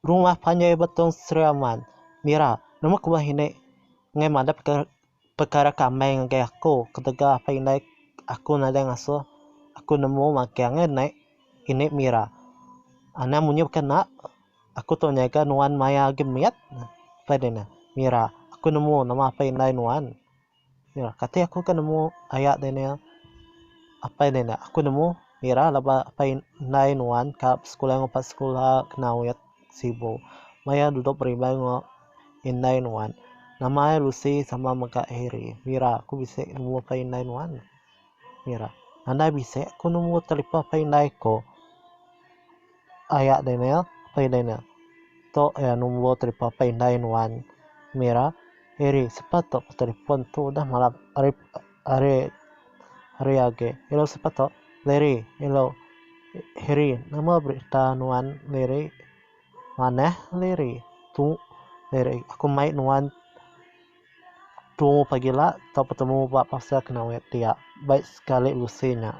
Rumah panjai Betong Sriaman. Mira, Nama ku meh indi enggai madah pekara ke amai ngagai aku ketegal apai indai aku nadai ngasuh aku nemu magang ngai deh indi Mira. Anang munyi baka enda aku tu nyaga nuan maya agi mit. Mira, Aku nemu nama apai indai nuan. Mira, kati aku ke nemu aya Daniel? Apai Daniel, aku nemu Mira laban apai indai nuan ka sekula ngupas sekula kena wet Sibu. Maya duduk berimbai enggau indai nuan. Nama ai Lucy sama mega Harry. Mira, aku bisi nemu apai indai nuan. Mira. Andai bisi ku numbur telipon pei indai ko. Aya Daniel. Pei Daniel. To ya numbur telipon pei indai nuan. Mira. Eri sepa to ko telipon tu udah malam ari ari ari age. Elo sepa to. Larry. Elo Harry. Nama berita nuan Larry. Manah Larry. Tu Larry. Aku mai nuan. Tumu pagi la tau petemu ba pasar Kenawit dia baik sekali usi nya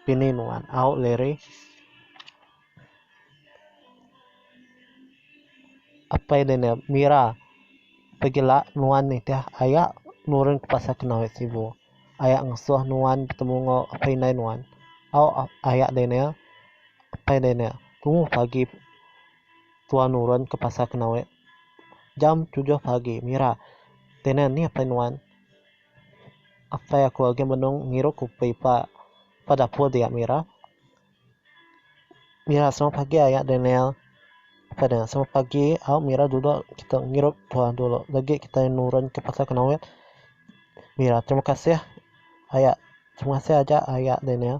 pini nuan au Larry apai dia nya Mira pagi la nuan nitih aya nurun ke pasar Kenawit sibu aya ngesuh nuan betemu enggau apai indai nuan au aya dia nya apai dia nya tumu pagi Tua nurun ke pasar Kenawe jam tujuh pagi mira tinen nih apai nuan. Apai aku agi benung ngirup kupi pa pa dapur dia mira. Mira semua pagi aya Daniel. Apai Daniel semua pagi au mira dudok kita ngirup tua dulu lagi kitai nurun ke pasar Kenawe. Mira terima kasih aya terima kasih aja aya Daniel.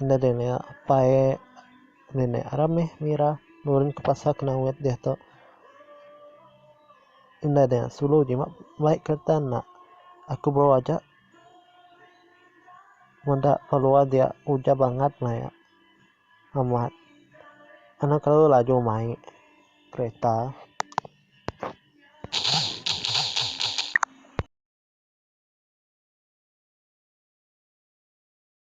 Enda deh meh apai nenek aram meh mira nurun ke pasar kena wet diatu. Enda deh sulu jimat baik kereta enda. Aku bro aja meda keluar dia ujan bangat maya amat anu kelalu laju mai kereta.